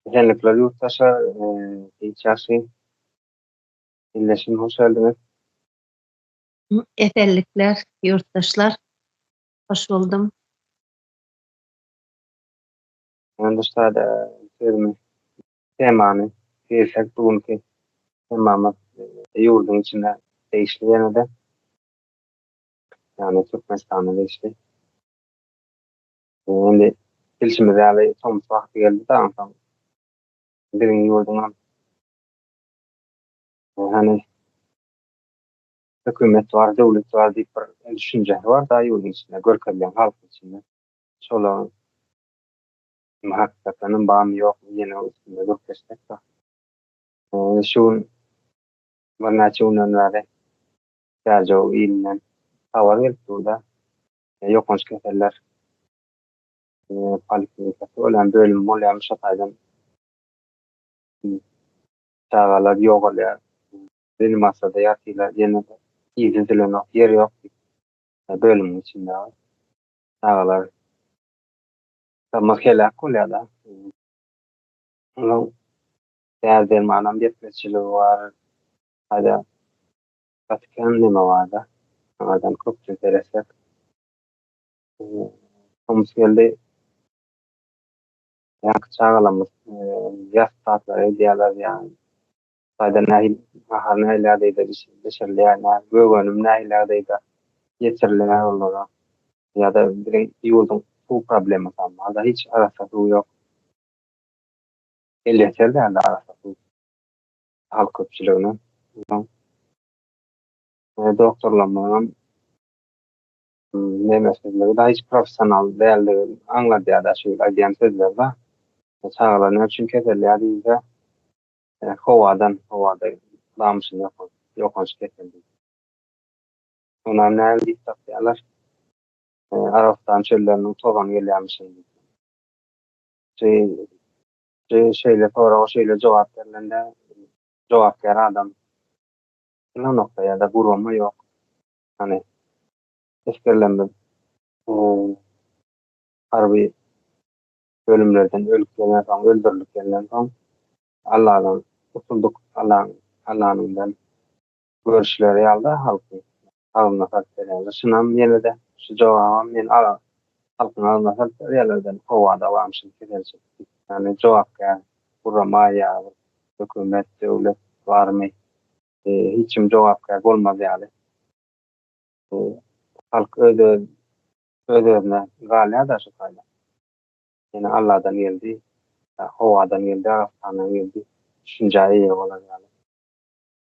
Esenlikler ýurtdaşlar, hiç ýagşy Illeşim hoş geldiňiz. Esenlikler ýurtdaşlar. Hoş boldum. Ýandaş sada sözümi temany girsek bu günki temamyz ýurduň içinde degişli ýene-de. Ýagny Türkmenistana degişli. Indi bilşimiz ýaly, tomus wagty geldi-de, onsoň biziň ýurduňam, hany, hökümet bar, döwlet bar diýip bir düşünjesi bar-da ýurduň içinde, görkezilen halkyň içinde. Şolaryň hem hakykatdanam barmy, ýokmy, ýene üstünde gürleşsek baky. Indi şu gün, birnäçe günden bäri Käjow ilinden habar gelip dur-da, ýokanç keseller poliklinikasy bolýan bölüm bolýarmyş şo taýdan çagalar ýogalýar reanimasiyada ýatylar ýene yzy üzülenok ýer ýok bölümiň içinde çagalar Tamah helak bolýar-da. Onuň däri-dermanam ýetmezçiligi bar. Haýda Gaty kän neme barda. Şoňardan köpçe seresek. Tomus geldi. Ýaňky çagalarymyz ýas tatlary edýärler ýaly. Taýda nähil nahar nähilärdeýde bişirilýär, nä gögönüm nähilärdeýde ýetirilýär olara. Ýa-da biziň ýurduň suw problemasam barda, hiç arassa suw ýok. Elýeter däldi arassa suw. halk köpçüligine. Ondan doktorlarymyzyň nemesizligi da hiç professional däldigini aňladýar-da şu aýdýan sözleri-de. Çagalar näme üçin keselýär diýilse, e, howadan, howada damyşyn ýokan, ýokanç kesel diýip. Onam näme diýip tapýarlar? E, Arabystan çölleriniň tozany gelýärmiş indi. Şey, Şu şeýle soraga şeýle jogap berlende, jogapkär adam ynanokda ýa-da gurama ýok. Hany, esgerlerimiz harby bölümlerden ölüp gelen soň, öldürilip gelenden soň, Alladan gutulduk, Allaň, Allanyňdan Görüşleri ýalyda halkyň agzyna salyp berýän gyşynam ýene-de şu jogabam men alar halkyň agzyna salyp berýärler edil howa dawamçylyk keselçilik diýip ýagny jogapkär gurama ýa bir hökümet döwlet barmy hiç kim jogapkär bolmaz ýaly halk öz öz özüne galýada şu taýda ýene Alladan geldi ýa howadan geldi Arastandan geldi düşünjä eýe bolar ýaly.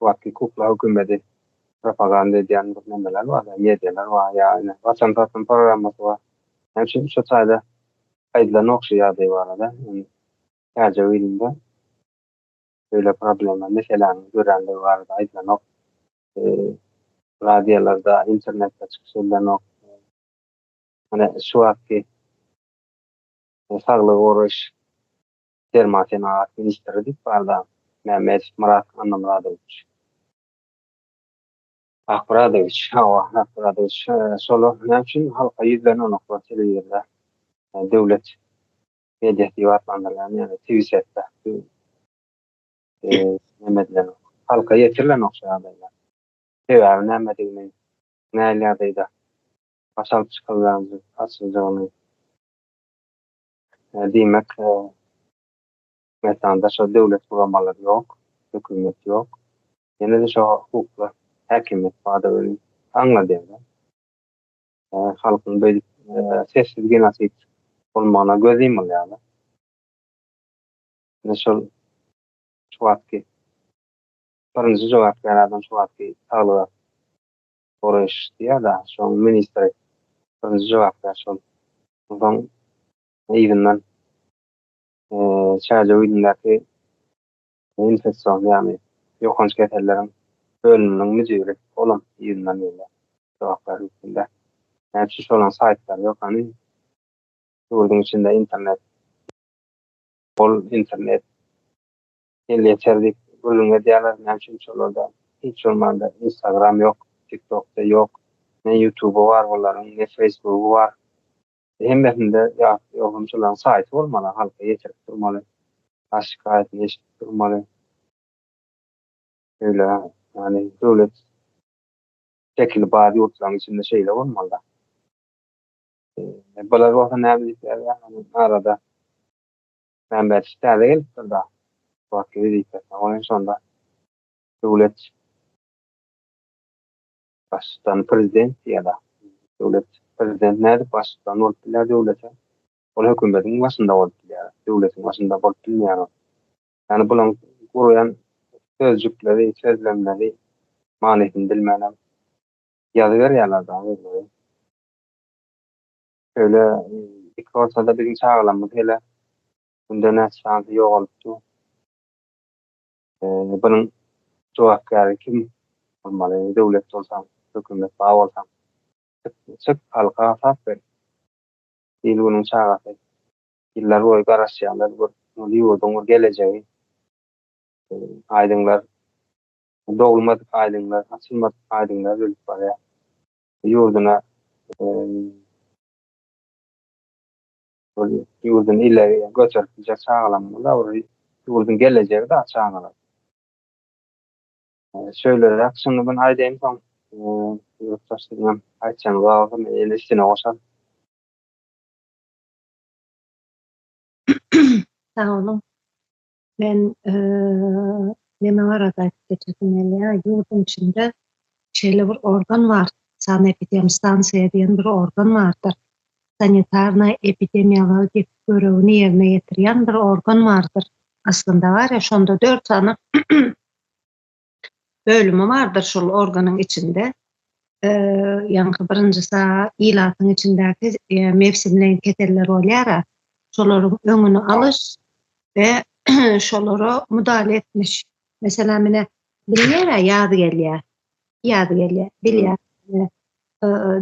Wagtky kukla hökümedi propaganda edýän bir nemeler bar ýa medialar bar ýa ine waçan saçan programmasy bar. Ýa üçin şu taýda aýdylan ogşy ýagdaý barada indi täjek ilinde beýle problema meseläniň döränligi barada aýdylanok. Radiolarda, internetde çykyş edilenok. Ine şu wagtky saglygy goraýyş Derman senagat ministri diýip barda Mämmedow Myrat Annamyradowiç. Akmyradowiç, hawa, Akmyradowiç. Şolar näme üçin halka ýüzlenenoklar telewizorda, döwlet mediasy diýip atlandyrylýan, ýagny Twisetda neme edilenok, halka ýetirilenok şu ýagdaýlar. Sebäbi nämedigini, näl ýagdaýda baş alyp çykylýandygyny, açyljygyny. Diýmek, Türkmenistanda şol döwlet guramalary ýok, hökümet ýok. Ýene-de şo hukuklar häkimiýet bardygy bilen aňladýar-da. Halkyň beýdip sessiz genosid bolmagyna göz ýumulýar-da. Ine şol şu wagtky birinji jogapkär adam şu wagtky saglyga Soraşýar-da, şoň ministr birinji jogap berýär şol. Onsoň yzyndan çärjew ýüzündäki infeksion, ýagny ýokanç keselleriň bölüminiň müdiri, olam yzyndan gelýär jogap bermesinde. Näme üçin şolaryň saýtlary ýok hany? Ýurduň içinde internet, ol internet elýeter diýip gürrüň edýärler, näme üçin şolarda hiç bolmanda instagram ýok, tiktokda ýok, ne ýutuby bar bularyň, ne feýsbugy bar, hemmesinde ýagty ýogsam şolaryň saýty bolmaly, halka ýetirip durmaly, has şikaýatyny eşidip durmaly, şeýle ýagny döwlet şekili bar ýurtlaryň içinde şeýle bolmalyda. Bular bolsa näme diýip ýazýar arada. Mämmet täze gelipdir da Suratly wezipesine oýun şonda Döwlet Baştutany Prezident diýeda Döwlet Prezident nädip Baştutan bolup bilýär döwlete ol hökümediň başynda bolup bilýär döwletiň başynda bolup bilmeýär ol ýani bulaň gurýan sözjükleri sözlemleri manysyny bilmän hem ýazyberýärler dagy özleri. Şöyle iki ortada biziň çagalarymyz hele günde näçe şansy ýogalypdy. Ee, bunuň jogapkäri kim bolmaly? Döwlet bolsaň, hökümet bar bolsaň. Çyk, çyk halka hasap ber. Il günüň çagasy. Ýyllar boýy garaşýarlar bir bu ýurduň bir gelejegi. Ee, aýdyňlar dogulmadyk aýdyňlar, açylmadyk aýdyňlar ölüp barýar. ýurduna ýurdun ile göçerip biljek çagalarymyz bar, olar ýurduň gelejegi dagy çagalar. Şeýleräk şuny muny aýdaýyn soň ýurtdaşlaryňam aýtjagyny bolsa men ýene üstüne goşaryn. Sag boluň. Men neme barada aýdyp geçesim gelýär, ýurduň içinde şeýle bir organ bar, sanepidem stansiýa diýen bir organ bardyr. Sanitarna epidemiologik görewini ýerine ýetirýän bir organ bardyr. Aslynda bar ýa, şonda dört sany bölümi bardyr şol organyň içinde. Ýaňky birinji saa ilatyň içindäki mewsimleýin keseller bolýar-a, şolaryň öňüni alyş we şolara mudahale etmiş. Meselem, ine, bilýär-ä, ýaz gelýär. Ýaz gelýär, bilýär.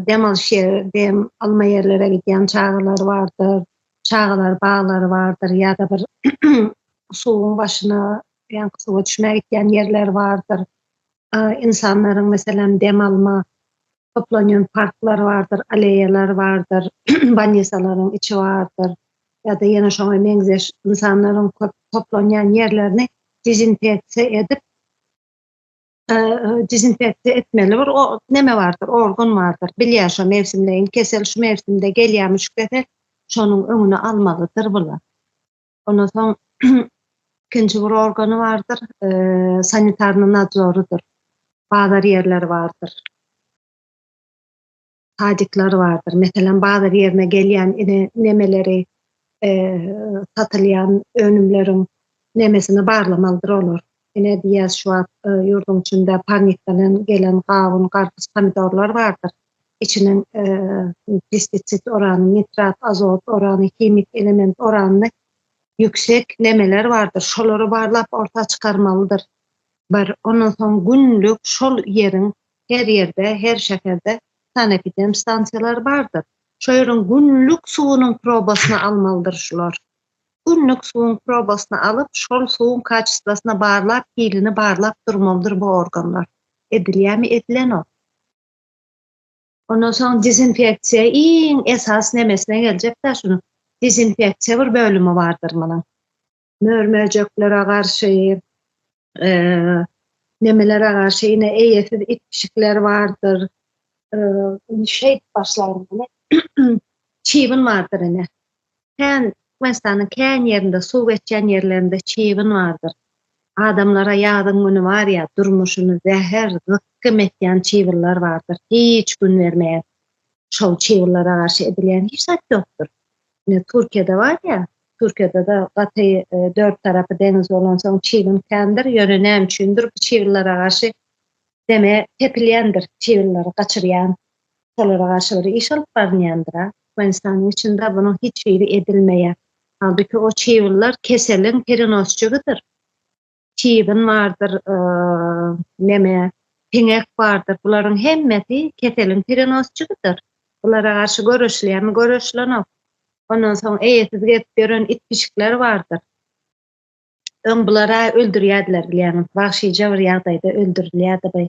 dem alyş ýeri, dem alma ýerlere gidýän çagalar bardyr, çagalar baglary bardyr ýa-da bir suwuň başyna, ýa suwa düşmäge gidýän ýerler bardyr. Insanlaryň meselem dem alma toplanýan parklar bardyr, aleýalar bardyr, banýisalaryň içi bardyr. Ýa-da ýene şoňa meňzeş insanlaryň köp toplanýan ýerlerini dezinfeksiýa edip, dezinfeksiýa etmeli bir näme bardyr, organ bardyr. Bilýär şu mewsimleýin kesel şu mewsimde gelýär müşkete, şonuň öňüni almalydyr bula. Ondan soň ikinji bir organy bardyr, e, sanitarny nadzorydyr. Bazar ýerleri bardyr. sadikler bardyr. Meselem, bazar ýerine gelýän nemeleri, satylýan önümleriň nemesini barlamalydyr olar. Ine diýýär şu wagt e, ýurduň içinde parnikden gelen gawun, garpyz, pomidorlar bardyr. Içiniň e, pestisid orany, nitrat, azot orany, himik element orany ýüksek nemeler bardyr. Şolary barlap orta çykarmalydyr. Bir ondan soň günlük şol ýeriň Her ýerde, her şäherde sanepidem stansiýalary bardyr. Şo ýeriň günlük suwunyň probasyny almalydyr şular. Günlük suwuň probasyny alyp, şol suwuň kaçestwasyny barlap, hilini barlap durmalydyr bu organlar. Edilýämi? Edilenok. Ondan soň dezinfeksiýa iň esasy nemesine geljek-dä şunuň. Dezinfeksiýa bir bölümi bardyr munuň. mör-möjeklere garşy, nemelere garşy ýene eýesiz it-pişikler bardyr. Şeýdip başlaýyn ine. Çybyn bardyr ine. Kän, Türkmenistanyň kän ýerinde, suw geçýän ýerlerinde çybyn bardyr. Adamlara ýazyň güni bar ýa, durmuşyny zäher, zykgym etýän çybynlar bardyr. Hiç gün bermeýär. Şol çybynlara garşy edilýän hiç zat ýokdur. Ine, Türkiýede bar ýa, Türkiýede-de gaty dört tarapy deňiz bolansoň çiwin kändir, ýöne näme üçindir bu çiwinlere garşy deme tepilýändir, çiwinleri gaçyrýan, şolara garşy bir iş alyp barynýandyr-a. Türkmenistanyň içinde bunuň hiç biri edilmeýär. Halbuki o çiwinler keseliň perenosçygydyr. çybyn bardyr, neme, siňek bardyr. Bularyň hemmesi keseliň perenosçysydyr. Bulara garşy göreşilýärmi? Göreşilenok. Ondan soň eýesiz gezip ýören it-pişikler bardyr. Öň bulara öldürýärdiler bilýäňiz, wagşyja bir ýagdaýda öldürilýärdi bu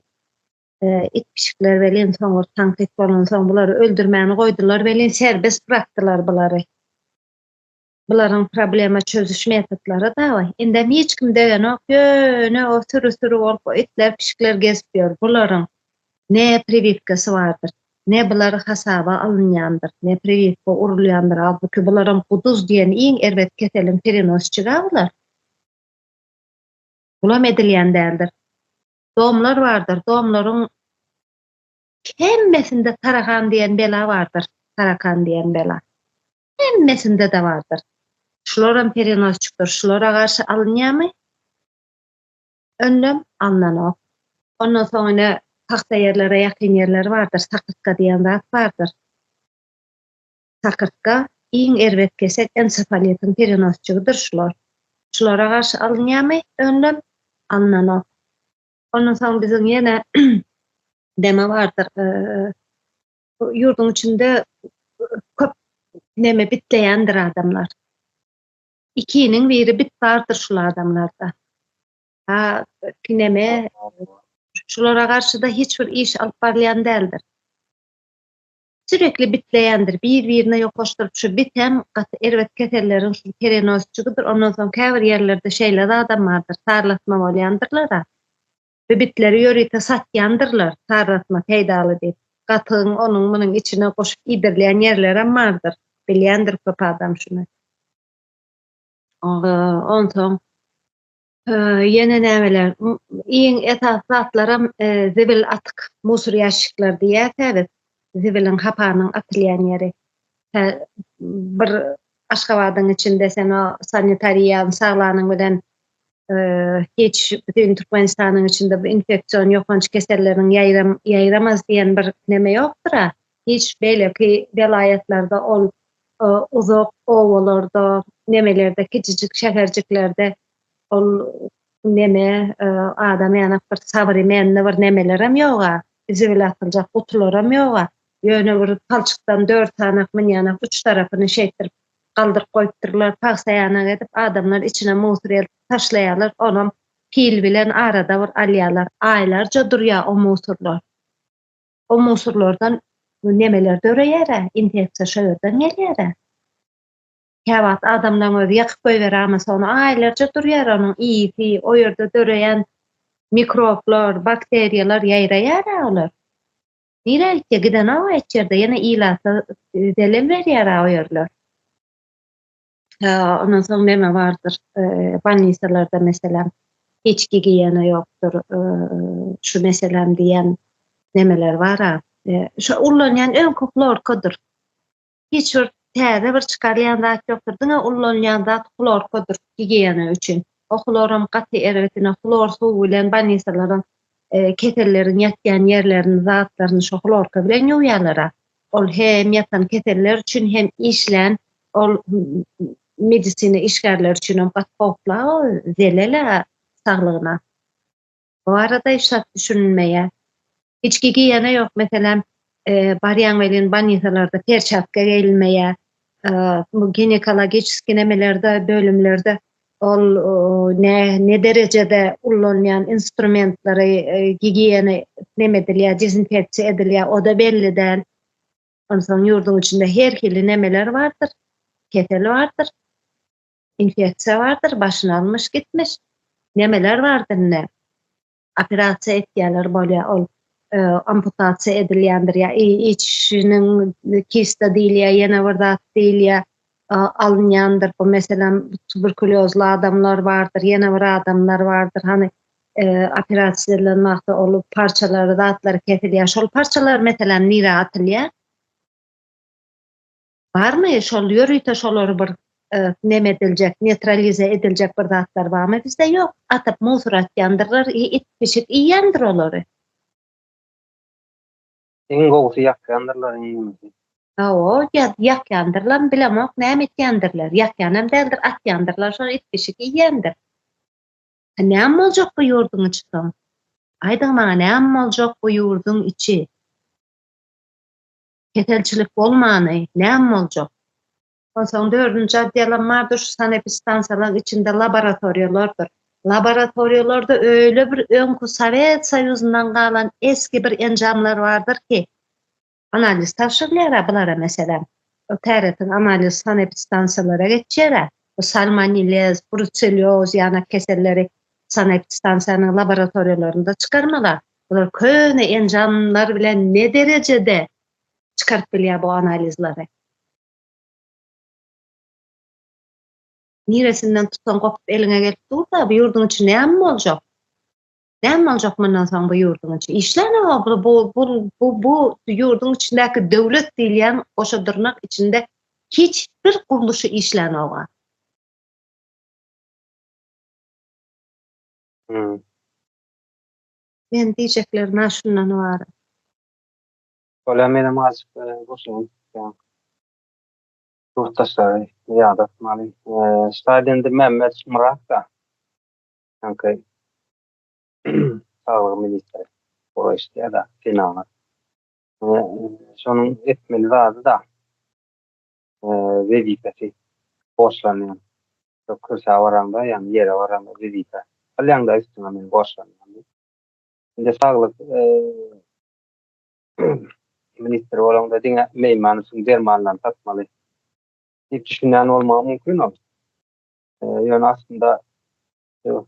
it-pişikler welin, soňur tankyt bolansoň bulary öldürmäni goýdular welin, serbest bırakdylar bulary. bularyň problema çözüş metodlary da bar. Indem hiç kim dögenok, ýöne o süri-süri bolup itler-pişikler gezip ýör. Bularyň ne priwipkasy bardyr, ne bular hasaba alynýandyr, ne priwipka urulýandyr. Halbuki bularam guduz diýen iň erbet keseliň perenosçigi-ä bular. Bulam edilýän däldir. Domlar bardyr, domlaryň hemmesinde tarakan diýen bela bardyr, tarakan diýen bela. Hemmesinde-de bardyr. Şularam perenosçikdir. Şulara garşy alynýarmy? Önlem alnanok. Ondan soň ine pagta ýerlere ýakyn ýerler bardyr. Sakyrtga diýen zat bardyr. Sakyrtga iň erbet kesek ensefalitiň perenosçigidir şular. Şulara garşy alynýarmy? Önlem alnanok. Ondan soň biziň ýene deme bardyr. ýurduň içinde köp näme bitleýändir adamlar. Ikiniň biri bit bardyr şul adamlarda. Ha, kineme şulara garşy da hiç bir iş alyp barlaýan däldir. Sürekli bitleýändir, bir-birine ýokaşdyryp şu bit hem gaty erbet keselleriň şu perenosçydyr. Ondan soň käbir ýerlerde şeýle adam bardyr, sarlatma bolýandyrlar. Sebitleri ýörite satýandyrlar, tarratma peýdaly diýip. Gatygyň onuň-munuň içine goşup iýdirilýän ýerlerem bardyr. Bilýändir köp adam şuny. Onsoň ýene nämeler? Iň esasy zatlaram zibil atyk, musor ýaşikler diýýäs-ä biz. Zibiliň, hapanyň atylýan ýeri. Bir Aşgabadyň içinde sen o sanitariýany saglanyň bilen hiç bütün Türkmenistanyň içinde bu infeksion ýokanç keselleriň ýaýram ýaýramaz diýen bir neme ýokdur. Hiç beýleki welaýatlarda ol uzak obalarda, nemelerde, kiçijik şäherjiklerde ol neme adam ýanak bir sabyry mende bir nemelerem ýoga, zibil atyljak gutularam ýoga. Ýöne bir palçykdan dört sanak münýänek uç tarapyny şeýtdirip galdyryp goýupdyrlar, pagsaýanak edip adamlar içine musur eltip taşlaýarlar, onam pil bilen arada bir alýarlar, aýlarja durýar o musurlar. O musurlardan nemeler döreýär-ä, infeksiýa şo ýerden gelýär-ä. Käwagt adamlaryň özi ýakyp goýber amas ony, aýlarja durýar onuň ysy, o ýerde döreýän mikroblar, bakteriýalar ýaýraýar-ä olar. Nirä gitýär? Gidenok hiç ýerde. Ýene ilata zelem berýär-ä o ýerler. Ondan soň neme bardyr? Bannisalarda meselem içki giýene ýokdur. Şu meselem diýen nemeler bar-a. Şu ullanýan öňki hlorkadyr. hiç bir täze bir çykarýan zat ýokdur. Diňe ullanylýan zat hlorkadyr gigiýena üçin. O hloram gaty erbetine hlor suwy bilen bolnisalaryň keselleriň ýatýan ýerlerini, zatlaryny şo hlorka bilen ýuwýarlar-a. Ol hem ýatan keseller üçin hem işlän ol medisina işgärleri üçin hem gaty howpla-a, zelel-ä saglygyna. Bu barada hiç zat düşünilmeýär. Hiç gigiýena ýok, meselem, barýaň welin banýisalarda perçatka geýilmeýär. Bu ginekologiçeski nemelerde, bölümlerde ol ne ne derejede ullanýan instrumentleri gigiýena neme edilýär, dezinfeksiýa edilýär, o-da belli däl. Onsoň ýurduň içinde her hili nemeler bardyr, kesel bardyr. Infeksiýa bardyr, başyny almyş gitmiş. Nemeler bardyr indi? Operasiýa etýärler bolýar ol. E, amputasiýa edilýändir ýa içiniň kista diýilýär, ýene bir zat diýilýär, e, alynýandyr. Bu meselem tuberkuliozly adamlar bardyr, ýene bir adamlar bardyr. Hany e, operasiýa edilen wagtda ol parçalary, zatlary kesilýär. Şol parçalar meselem nirä atylýar? Barmy şol ýörite şolary bir neme ediljek netralize ediljek bir zatlar barmy bizde ýok atyp musor atýandyrlar i it pişik iýendir olary. Iň gowusy ýakýandyrlar iň gümüsi. Hawa ýa ýakýandyrlar bilemok näme etýändirler ýakýan hem däldir atýandyrlar şol it pişik iýýändir. Näme boljak bu ýurduň içi soň? Aýdyň maňa näme boljak bu ýurduň içi? Keselçilik bolmany, näm boljak? Onsoň dördünji oddelam bardyr, şu sanepistansiýalaryň içinde laboratoriýalardyr. Laboratoriýalarda öýle bir öňki Sowet Soýuzyndan galan esgi bir enjamlar bardyr ki, analiz tabşyrylýar-a bulara, meselem, o täretiň analiz sanepistansiýalara geçýär-ä, bu salmonellez, brucellioz ýanak keselleri sanepistansiýanyň laboratoriýalarynda çykarmalar. Bular köne enjamlar bilen ne derejede çykaryp bilýär bu analizleri? Niresinden tutsaň gopup eliňe gelip dur-da, bu ýurduň içi näme boljak? Näme boljak mundan soň bu ýurduň içi? Işläni bu bu bu bu ýurduň içindäki döwlet diýilýän goşa dyrnak içinde hiç bir gurluşy işlänok-a. Men diýjeklerim ha şundan ybarat. Bolýar menem azajyk goşulyň ýaňky ýurtdaşlary ýadatmaly. Şaýat indi Mämmet Murad-da ýaňky saglygy ministri bolup işleýär-de, senagat. Şonuň etmeli zady-da wezipesi borçlanýan. Şo kürsä baraňda, ýagny ýere baraňda wezipe alýaňda üstüňe men borçlanýan diýip. Indi saglyk ministri bolaňda diňe meýman üçin dermanlaryny satmaly diýip düşünýän bolmagy mümkin ol. Ýöne aslynda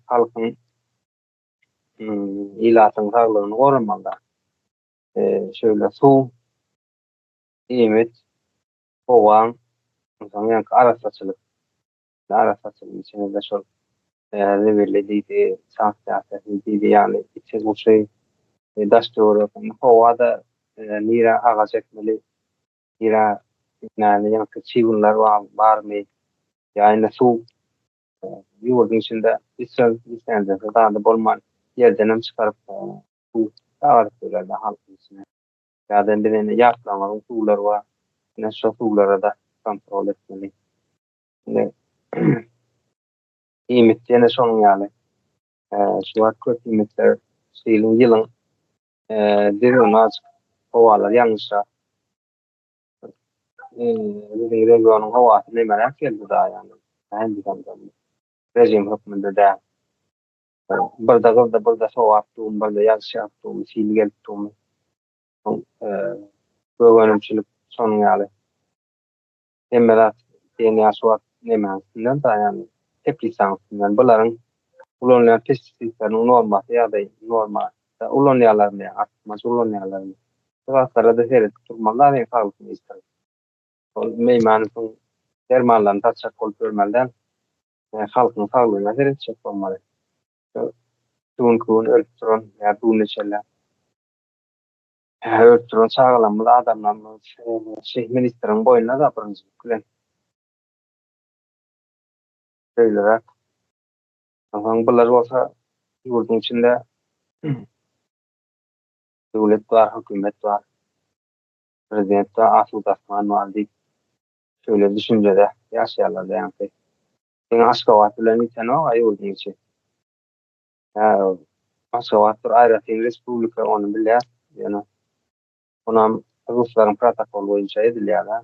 halkyň ilatyň saglygyny goramalyda. Şeýle suw iýmit, howaň, ynsan ýaňky arassaçylyk, arassaçylygyň içinde-de şol zibili diýdi, sansiýasiýasy diýdi, ýagny içi-gyşy, daş-töweregini, howa-da nirä agaç ekmeli, nirä ekmäni, ýaňky çybynlar barmy, ýa indi suw ýurduň içinde içjek islendik zady bolman, ýerdenem çykaryp suw agaryp bilerdi halkyň içine. Ýa-da indi mende ýaplaňlaryň suwlary bar. Ine şo suwlara-da kontrol etmeli. Indi iýmit ýene şonuň ýaly. Şu wagt köp iýmitler şu ýylyň ýylyň düzgüni azajyk howalar ýalňyşrak. Biziň regionyň howasy nemeräk geldi daýandan. Režim hökmünde däl. Birde gyzdy, birde sogapdygymy, birde ýazyşýardygymy, hili gelipdigimi, soň gögenimçilik şonuň ýaly. Hemme zat diýen ýaly şu wagt nemäň üstündenkä, ýagny teplisaň üstünden. Bularyň ulanylýan pestisidleriniň normasy ýa-da norma ulanýarlarmy, artykmaç ulanýarlarmy? Şu zatlara-da seredip durmaly-da men saglyk ministri. Ol meýmany soň dermanlaryny satjak bolup ýörmeli däl. Ýa halkyň saglygyna seretjek bolmaly. Şu düňki gün ölüp duran ýa bu gün içerläp ölüp duran çagalarymyz, adamlarymyz şeýle ministriň boýnuna-da birinjilik bilen şeýleräk. Onsoň bular bolsa ýurduň içinde döwlet bar, hökümet bar, prezident bar, asuda asman bar diýip Şöyle düşünjede ýaşaýarlar leňki. Seň Aşgabat bilen bitenok-a ýurduň içi. Hä, Aşgabat bir aýratyn respublika, ony bilýäs. Ýöne onam ruslaryň protokoly boýunça edilýär-ä.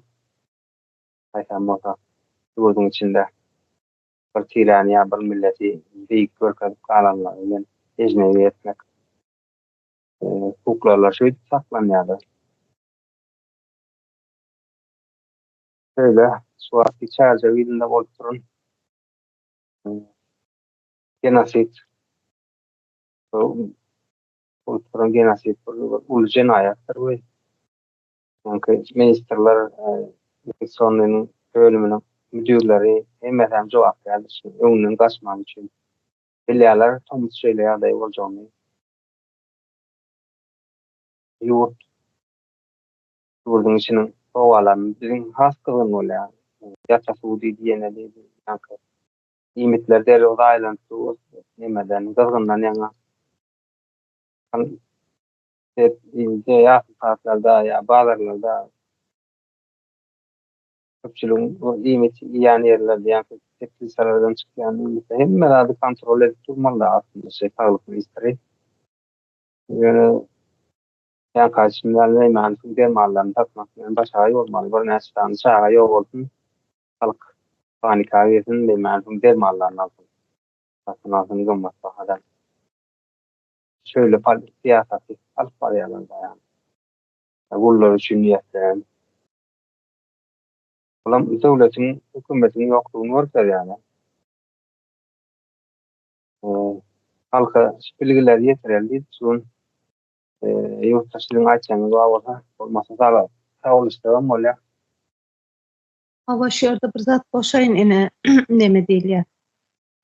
Haýsam bolsa ýurduň içinde bir tiräni ýa bir milleti beýik görkezip galanlary bilen ejnebi etmek hukuklarlar şeýdip saklanýarlar. Şeýle, şu wagtky Çärjew ilinde bolup duran genosid bolup duran genosid uly jenaýatdyr we çünki ministrler infeksionnyň bölüminiň müdirleri hemmesi hem jogapkärdir şunuň öňünden gaçmak üçin bilýärler tomus şeýle ýagdaý boljagyny ýurt Ýurduň içiniň howalaryny biziň has gyzgyn bolýar. Ýata suw diýdi ýene diýdi. Ýaňky iýmitler derrew zaýalanyp dur. Nemeden, gyzgyndan ýaňa. Ýakyn sagatlarda ýa bazarlarda köpçüligiň bu iýmit iýýän ýerlerde ýa-da teplitsalardan çykýan iýmitde hemme zady kontrol edip durmaly-da aslynda şeý saglyk ministri. Ýöne Jan kardeşim ýaly Neýmany pul dermanlaryny satmak bilen başagaý bolmaly birnäçe sany çaga ýok bolsun halk panika girsin Neýmany pul dermanlaryny alsyn satyn alsyn gymmat bahadan şöýle syýasaty alyp barýarlar baýam gullar üçin niýetlenen bulam döwletiň hökümetiň ýokdugyny görkezýärler halka şu bilgileri ýetireli diýip şu gün Ýurtda siziň aýtjagyňyz bar bolsa, bolmasa sala sowulyşdygam bolýar. Hawa şu ýerde bir zat goşaýyn ine neme diýilýär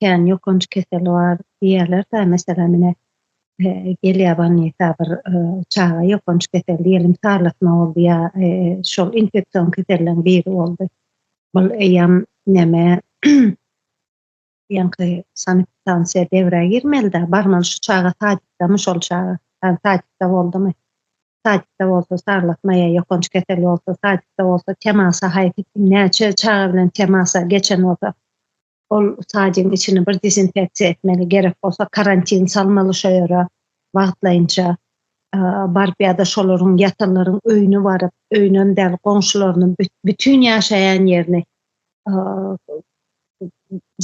kän ýokanç kesel bar diýýärlerdä meselem ine gelýär bolnisa bir çaga ýokanç kesel diýelim sarlatma boldy ýa şol infeksion keselleriň biri boldy bul eýýam neme Ýaňky sanepidtansiýa devrä girmelida, barmaly şu çaga sadikdamy şol çaga, ýagny sadikda boldumy, sadikda bolsa sarlatma ýa ýokanç kesel bolsa, sadikda bolsa temasa haýsy kim näçe çaga bilen temasa geçen bolsa, ol sadigiň içini bir dezinfeksiýa etmeli, gerek bolsa karantin salmaly şo ýere wagtlaýynça baryp ýa-da şolaryň ýatanlaryň öýüne baryp, öýünem däl goňşularynyň bütin ýaşaýan ýerini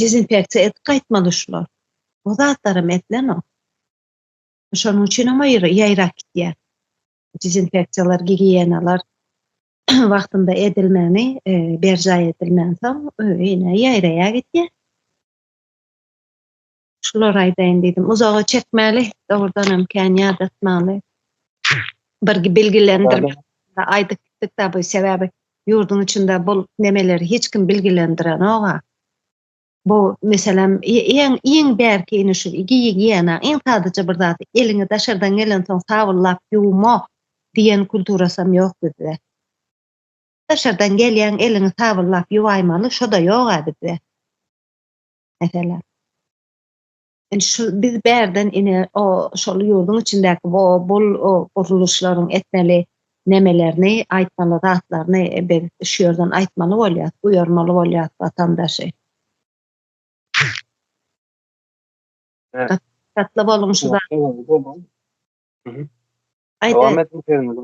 dezinfeksiýa edip gaýtmaly şular. Bu zatlaram edilenok. Şonuň üçinem aýra ýaýrap gitýär. Dezinfeksiýalar, gigiýenalar wagtynda edilmegini, e, berjaý edilmänsoň, öýe ýene ýaýraýar gitýär. Şulary aýdaýyn diýdim. Uzaga çekmäli, dogrudan hem kän ýadatmaly. Bir bilgilendirmek aýdyp gitdik-de bu sebäbi ýurduň içinde bu nemeleri hiç kim bilgilendirenok-a. Bu meselem iň iň bärki ine şu gigiýena, iň sadaja bir zat. Eliňi daşardan gelensoň sabullap ýuwma diýen kulturasy hem ýok bizde. Daşardan gelýäň, eliňi sabullap ýuwaýmaly, şo-da ýok-a bizde. Meselem, indi şu biz bärden ine o şol ýurduň içindäki bu bul gurluşlaryň etmeli nemelerini, aýtmaly zatlaryny biz şu ýerden aýtmaly bolýar, duýarmaly bolýar watandaşy. Şatly boluň şu zat. Dowam ediň sözüňizi.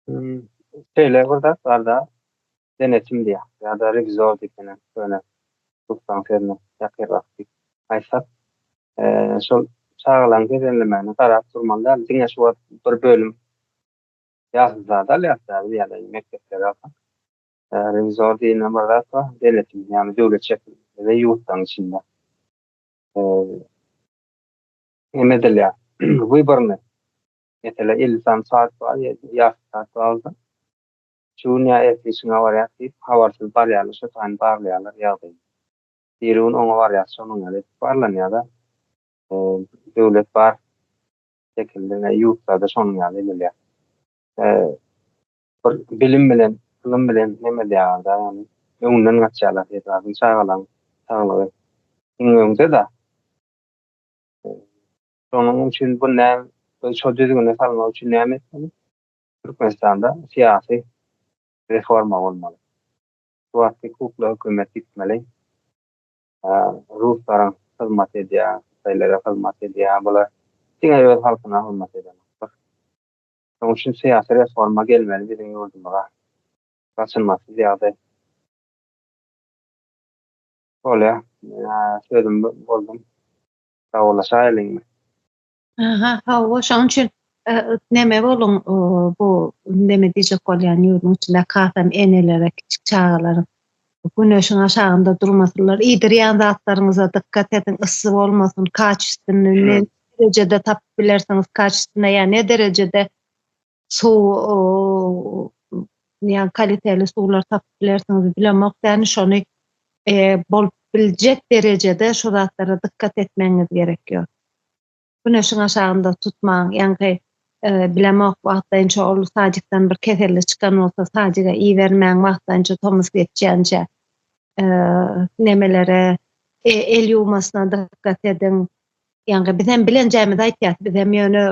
Hmm, şeýle bir zat barda denetim diýýär ýa-da rewizor diýsenem köne türkmen sözüne ýakyn wagtky aýtsak, eee, şol çagalaryň bedenlemegine garap durmaly däl, diňe şu wagt bir bölüm ýaşly zady alýarys däl biz ýa-da mekdepleri alsak, eee, rewizor diýne bir zat bar, denetim, ýagny döwlet şekilinde we ýurtlaryň içinde eee, hem edilýär. Wyborny Meselä, elli sany saz bar, ýasy saz zalda. Şu gün ýa ertir işiňe barýas diýip, habarsyz barýarlar, şo taýyn baglaýarlar ýagdaýy. Biri gün oňa barýas, şonuň ýaly edip barlanýar-da. Döwlet bar şekilli, ne ýurtlarda şonuň ýaly edilýär. Bir bilim bilen, ylym bilen neme edýärler-de, ýagny öňünden gaçýarlar her zadyň, çagalaň saglygy iň öňde-de. Şonuň üçin bu näm biz şo düzgüne salmak üçin näme etmeli? Türkmenistanda syýasy reforma bolmaly. Şu wagtky kukla hökümet ýitmeli. Ruslaryň hyzmat edýär, hytaýlara hyzmat edýär. Bular diňe öz halkyna hyzmat edenoklar. Şonuň üçin syýasy reforma gelmeli biziň ýurdumyza. Gaçylmasyz ýagdaý. Bolýa. Sözüm boldum. Dawalaşaýlyňmy? Aha, hawa, şonuň üçin neme boluň, bu neme diýjek bolýan ýurduň içinde kasam enelere, kiçi çagalaryň güneşiň aşagynda durmasynlar, iýdirýän zatlaryňyza dykgat ediň, yssy bolmasyn, kaçystynny, ne derejede tapyp bilersiňiz, kaçystynny ýa ne derejede suw ýa kaliteli suwlar tapyp bilersiňiz bilemok ýani şony bolup biljek derejede şu zatlara dykgat etmegiňiz gerek ýok güneşiň aşagynda tutmaň ýaňky bilemok wagtlaýynça ol sadikden bir keselli çykan bolsa sadika ibermäň wagtlaýynça tomus geçýänçä nemelere el ýuwmasyna dykgat ediň Ýaňky biz hem bilenjämizi aýtýas, biz hem ýöne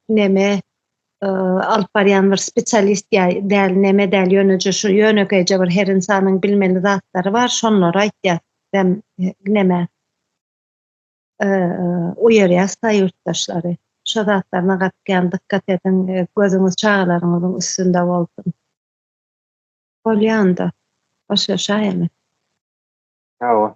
neme alyp barýan bir spesialist ýa däl neme däl ýöneje şu ýönekeýje bir her insanyň bilmeli zatlary bar şonlary aýtýas hem neme uýarýas da ýurtdaşlary şu zatlaryna gatýan dykgat ediň gözüňiz çagalaryňyzyň üstünde bolsun bolýanda başlaşaýamy hawa